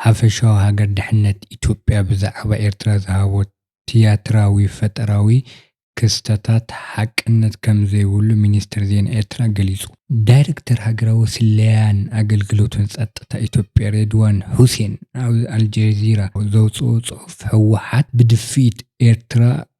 ሓፈሻዊ ሃገር ድሕነት ኢትዮጵያ ብዛዕባ ኤርትራ ዝሃቦ ትያትራዊ ፈጠራዊ ክስተታት ሓቅነት ከም ዘይብሉ ሚኒስተር ዜና ኤርትራ ገሊጹ። ዳይረክተር ሃገራዊ ስለያን ኣገልግሎትን ጸጥታ ኢትዮጵያ ሬድዋን ሑሴን ኣብ ኣልጀዚራ ዘውጽኦ ጽሑፍ፣ ህወሓት ብድፍኢት ኤርትራ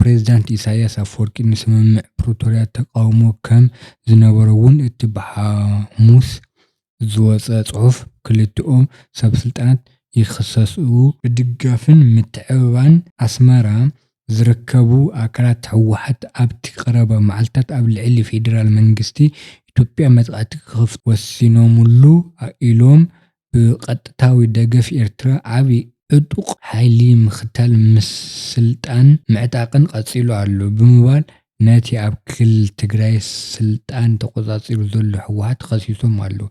ፕሬዝዳንት ኢሳይያስ ኣፍወርቂ ንስምምዕ ፕሪቶርያ ተቓውሞ ከም ዝነበሮ'ውን እቲ ብሓሙስ ዝወጸ ጽሑፍ ክልቲኦም ሰበስልጣናት ይኽሰሱ። ብድጋፍን ምትዕብባን ኣስመራ ዝርከቡ ኣካላት ህወሓት ኣብ'ቲ ቀረባ መዓልታት ኣብ ልዕሊ ፌደራል መንግስቲ ኢትዮጵያ መጥቓዕቲ ክኽፍቱ ወሲኖምሉ ኢሎም ብቐጥታዊ ደገፍ ኤርትራ ዓቢ ዕጡቕ ሓይሊ ምኽታል ምስልጣንን ምዕጣቕን ቀጺሉ ኣሎ ብምባል ነቲ ኣብ ክልል ትግራይ ስልጣን ተቖጻጺሩ ዘሎ ህወሓት ከሲሶም ኣለዉ።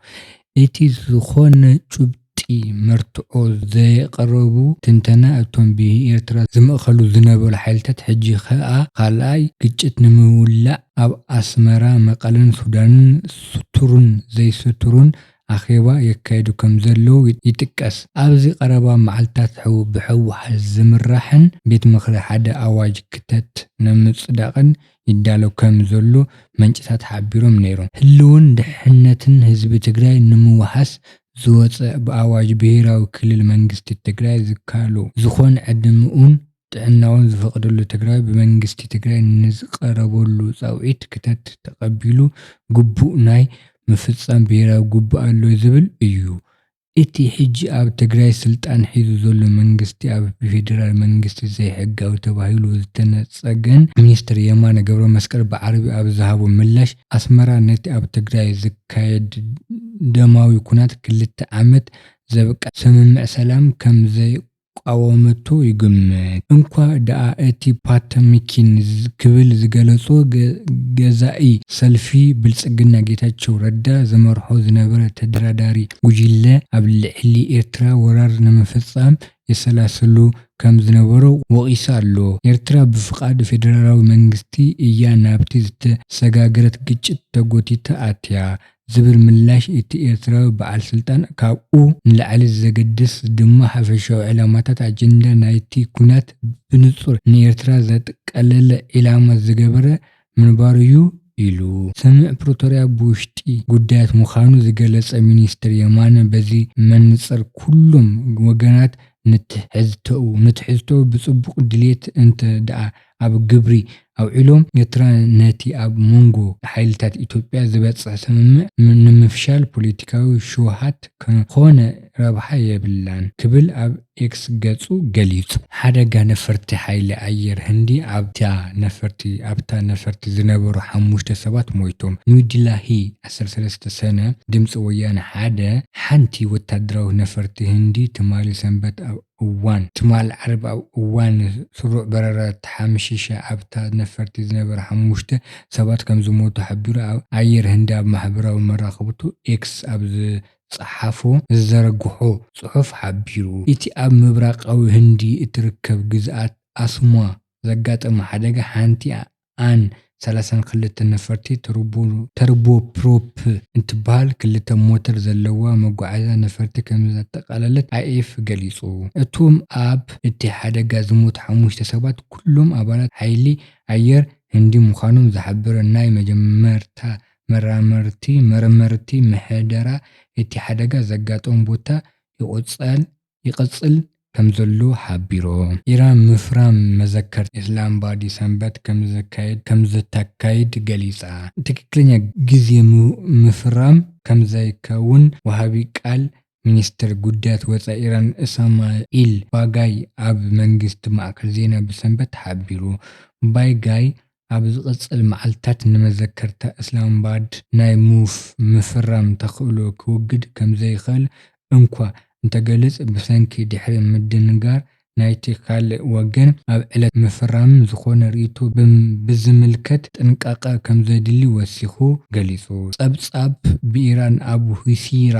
እቲ ዝኾነ ጭቡጢ መርትዖ ዘየቕረቡ ትንተና እቶም ብኤርትራ ዝምእከሉ ዝነበሩ ሓይልታት ሕጂ ከኣ ካልኣይ ግጭት ንምውላዕ ኣብ ኣስመራ፣ መቐለን ሱዳንን ስቱሩን ዘይስቱሩን ኣኼባ የካይዱ ከምዘለዉ ይጥቀስ። ኣብዚ ቀረባ መዓልታት ሕው ብሕወሓት ዝምራሕን ቤት ምኽሪ ሓደ ኣዋጅ ክተት ነምፅዳቕን ይዳሎ ከም ዘሎ መንጭታት ሓቢሮም ነይሮም። ህልውን ድሕነትን ህዝቢ ትግራይ ንምውሓስ ዝወፀ ብኣዋጅ ብሄራዊ ክልል መንግስቲ ትግራይ ዝካሎ ዝኾን ዕድምኡን ጥዕናውን ዝፈቕደሉ ተግባር ብመንግስቲ ትግራይ ንዝቐረበሉ ፃውዒት ክተት ተቐቢሉ ግቡእ ናይ ምፍፃም ብሄራዊ ግቡእ ኣሎ ዝብል እዩ። እቲ ሕጂ ኣብ ትግራይ ስልጣን ሒዙ ዘሎ መንግስቲ ኣብ ብፌደራል መንግስቲ ዘይሕጋዊ ተባሂሉ ዝተነፀገን ሚኒስትር የማነ ገብረመስቀል ብዓርቢ ኣብ ዝሃቦ ምላሽ ኣስመራ ነቲ ኣብ ትግራይ ዝካየድ ደማዊ ኩናት ክልተ ዓመት ዘብቅዐ ስምምዕ ሰላም ከምዘይቕበሎ ክቃወመቶ ይግምት። እንኳእ ደኣ እቲ ፓተሚኪን ክብል ዝገለጾ ገዛኢ ሰልፊ ብልጽግና ጌታቸው ረዳ ዝመርሖ ዝነበረ ተደራዳሪ ጉጅለ ኣብ ልዕሊ ኤርትራ ወራር ንምፍጻም የሰላስሉ ከም ዝነበሩ ወቒሱ ኣሎ። ኤርትራ ብፍቓድ ፌደራላዊ መንግስቲ እያ ናብቲ ዝተሰጋገረት ግጭት ተጎቲታ ኣትያ። ዝብል ምላሽ እቲ ኤርትራዊ በዓል ስልጣን፣ ካብኡ ንላዕሊ ዘገድስ ድማ ሓፈሻዊ ዕላማታት ኣጀንዳ ናይቲ ኵናት ብንጹር ንኤርትራ ዘጠቃለለ ዒላማ ዝገበረ ምንባሩ'ዩ ኢሉ። ስምምዕ ፕሪቶርያ ብውሽጢ ጉዳያት ምዃኑ ዝገለጸ ሚኒስተር የማነ በዚ መንጽር ኩሎም ወገናት ንትሕዝቶኡ ንትሕዝቶኡ ብጽቡቕ ድሌት እንተ ደኣ ኣብ ግብሪ ኣውዒሎም ኤርትራ ነቲ ኣብ ሞንጎ ሓይልታት ኢትዮጵያ ዝበጽሕ ስምምዕ ንምፍሻል ፖለቲካዊ ሽውሃት ከኾነ ረብሓ የብላን ክብል ኣብ ኤክስ ገጹ ገሊጹ። ሓደጋ ነፈርቲ ሓይሊ ኣየር ህንዲ ኣብታ ነፈርቲ ኣብታ ነፈርቲ ዝነበሩ ሓሙሽተ ሰባት ሞይቶም። ኒው ዲላሂ ዓሰርተ ሰለስተ ሰነ፣ ድምጺ ወያነ ሓደ፣ ሓንቲ ወተሃደራዊት ነፈርቲ ህንዲ ትማሊ ሰንበት ኣብ እዋን፣ ትማል ዓርቢ ኣብ እዋን ስሩዕ በረራ ተሓምሺሸ ኣብታ ነፈርቲ ዝነበረ ሓሙሽተ ሰባት ከምዝሞቱ ሓቢሩ ኣየር ህንዲ ኣብ ማሕበራዊ መራኸብቱ ኤክስ ኣብ ዝጸሓፎ ዝዘርግሖ ጽሑፍ ሓቢሩ። እቲ ኣብ ምብራቓዊ ህንዲ እትርከብ ግዝኣት ኣስሟ ዘጋጠመ ሓደጋ ሓንቲ ኣን ሰላሳን ክልተ ነፈርቲ ተርቦፕሮፕ እትበሃል ክልተ ሞተር ዘለዋ መጓዓዝያ ነፈርቲ ከምዘጠቓለለት ኣይኤፍ ገሊጹ። እቶም ኣብ እቲ ሓደጋ ዝሞቱ ሓሙሽተ ሰባት ኩሎም ኣባላት ሓይሊ ኣየር ህንዲ ምዃኖም ዝሓበረ ናይ መጀመርታ መርመርቲ፣ ምሕደራ እቲ ሓደጋ ዘጋጠሞ ቦታ ይቕጽል ይቕጽል ከምዘሉ ሓቢሩ። ኢራን ምፍራም መዘከርታ ኢስላምባዲ ሰንበት ከምዘካይድ ገሊጻ። ትክክለኛ ግዜ ምፍራም ከምዘይከውን ወሃቢ ቃል ሚኒስተር ጉዳያት ወጻኢ ኢራን እሳማኢል ባጋይ ኣብ መንግስቲ ማእከል ዜና ብሰንበት ሓቢሩ። ባጋይ ኣብ ዝቕጽል መዓልታት ንመዘከርታ እስላማባድ ናይ ምውፍ ምፍራም ተኽእሎ ክውግድ ከምዘይኽእል እንኳ እንተገልጽ ብሰንኪ ድሕሪ ምድንጋር ናይቲ ካልእ ወገን ኣብ ዕለት ምፍራም ዝኾነ ርእይቶ ብዝምልከት ጥንቃቐ ከምዘድሊ ወሲኹ ገሊጹ። ጸብጻብ ብኢራን ኣብ ሁሲራ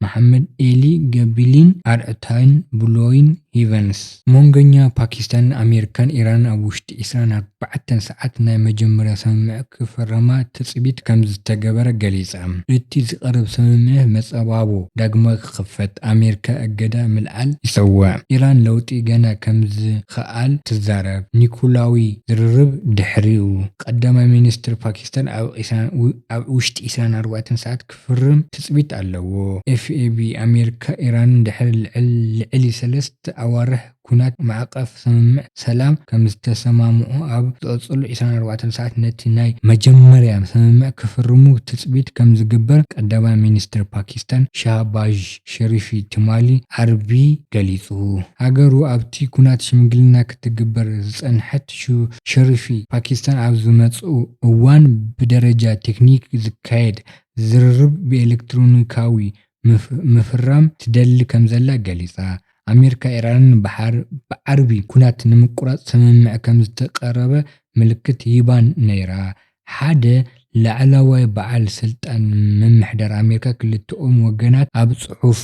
መሓመድ ኤሊ ገቢሊን ኣርዕታይን ብሎይን ሂቨንስ። ሞንገኛ ፓኪስታንን ኣሜሪካን ኢራንን ኣብ ውሽጢ ዕስራን ኣርባዕተን ሰዓት ናይ መጀመርያ ሰምምዕ ክፍረማ ትጽቢት ከምዝተገበረ ገሊጻ። እቲ ዝቐርብ ሰምምዕ መጸባቦ ዳግማይ ክኽፈት፣ ኣሜሪካ እገዳ ምልዓል ይጸውዕ፣ ኢራን ለውጢ ገና ከምዝክኣል ትዛረብ፣ ኒኩላዊ ዝርርብ ድሕሪኡ ቀዳማይ ሚኒስትር ፓኪስታን ኣብ ውሽጢ ዕስራን ኣርባዕተን ሰዓት ክፍርም ትጽቢት ኣለዎ። ኤፍኤቢ፣ ኣሜሪካን ኢራንን ድሕሪ ልዕሊ ሰለስተ ኣዋርሕ ኲናት ማዕቐፍ ስምምዕ ሰላም ከምዝተሰማምዑ ኣብ ዝቕጽሉ ዕስራን ኣርባዕተን ሰዓት ነቲ ናይ መጀመርያ ስምምዕ ክፍርሙ ትጽቢት ከምዝግበር ቀዳማይ ሚኒስተር ፓኪስታን ሻህባዥ ሸሪፊ ትማሊ ዓርቢ ገሊጹ። ሃገሩ ኣብቲ ኲናት ሽምግልና ክትግበር ዝጸንሐት ሸሪፊ፣ ፓኪስታን ኣብ ዝመጽእ እዋን ብደረጃ ቴክኒክ ዝካየድ ዝርርብ ብኤለክትሮኒካዊ ምፍራም ትደሊ ከምዘላ ገሊጻ። ኣመሪካ ኢራንን ብሓር ብዓርቢ ኩናት ንምቁራጽ ስምምዕ ከምዝተቀረበ ምልክት ሂባ ነይራ። ሓደ ላዕላዋይ በዓል ስልጣን ምምሕዳር ኣመሪካ ክልተኦም ወገናት ኣብ ጽሑፍ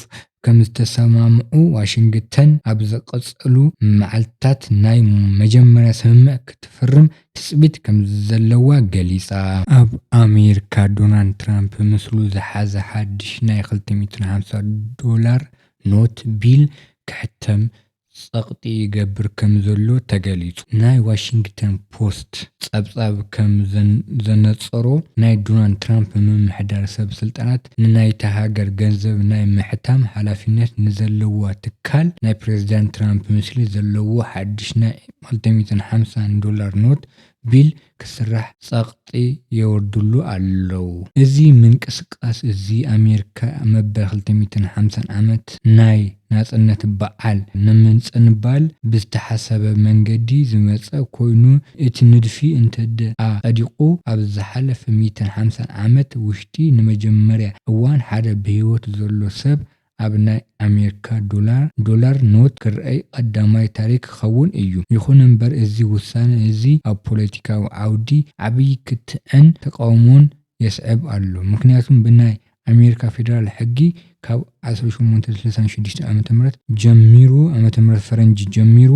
ከምዝተሰማምዑ ዋሽንግተን ኣብ ዝቕጽሉ መዓልትታት ናይ መጀመርያ ስምምዕ ክትፍርም ትጽቢት ከምዘለዋ ገሊጻ። ኣብ ኣሜሪካ ዶናልድ ትራምፕ ምስሉ ዝሓዘ ሓድሽ ናይ ክልተ ሚእትን ሓምሳ ዶላር ኖት፣ ቢል፣ ክሕተም ጸቕጢ ይገብር ከምዘሎ ተገሊጹ። ናይ ዋሽንግተን ፖስት ጸብጻብ ከምዘነጸሮ፣ ናይ ዶናልድ ትራምፕ ምምሕዳር ሰብ ስልጣናት ንናይታ ሃገር ገንዘብ ናይ ምሕታም ሓላፊነት ንዘለዋ ትካል ናይ ፕረዚዳንት ትራምፕ ምስሊ ዘለዎ ሓድሽ ናይ ክልተሚእትን ሓምሳን ዶላር ኖት ቢል ክስራሕ ጸቕጢ የወርድሉ ኣለው። እዚ ምንቅስቃስ እዚ ኣሜሪካ መበል ክልተሚእትን ሓምሳን ዓመት ናይ ናጽነት በዓል ንምጽንባል ብዝተሓሰበ መንገዲ ዝመጸ ኮይኑ እቲ ንድፊ እንተድኣ ጸዲቑ ኣብ ዝሓለፈ ሚእትን ሓምሳን ዓመት ውሽጢ ንመጀመርያ እዋን ሓደ ብህይወት ዘሎ ሰብ ኣብ ናይ ኣሜርካ ዶላር፣ Dollar Note፣ ክርኣይ ቐዳማይ ታሪኽ ክኸውን እዩ። ይኹን እምበር እዚ ውሳነ እዚ ኣብ ፖለቲካዊ ዓውዲ ዓብዪ ክትዕን ተቓውሞን የስዕብ ኣሎ። ምኽንያቱም ብናይ ኣሜርካ ፌደራል ሕጊ ካብ ዓሰርተ ሸሞንተ ስልሳን ሽዱሽተን ዓመተ ምህረት ጀሚሩ፣ ዓመተ ምህረት ፈረንጂ ጀሚሩ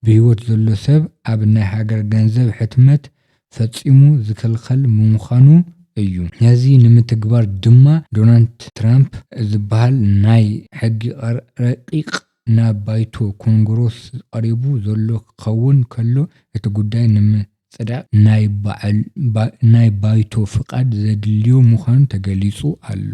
ብህይወት ዘሎ ሰብ ኣብ ናይ ሃገር ገንዘብ ሕትመት ፈጺሙ ዝክልኸል ብምዃኑ እዩ። ነዚ ንምትግባር ድማ ዶናልድ ትራምፕ ዝበሃል ናይ ሕጊ ረቂቕ ናብ ባይቶ ኮንግሮስ ቐሪቡ ዘሎ ክኸውን ከሎ እቲ ጉዳይ ንምጽዳቕ ናይ ባይቶ ፍቓድ ዘድልዮ ምዃኑ ተገሊጹ ኣሎ።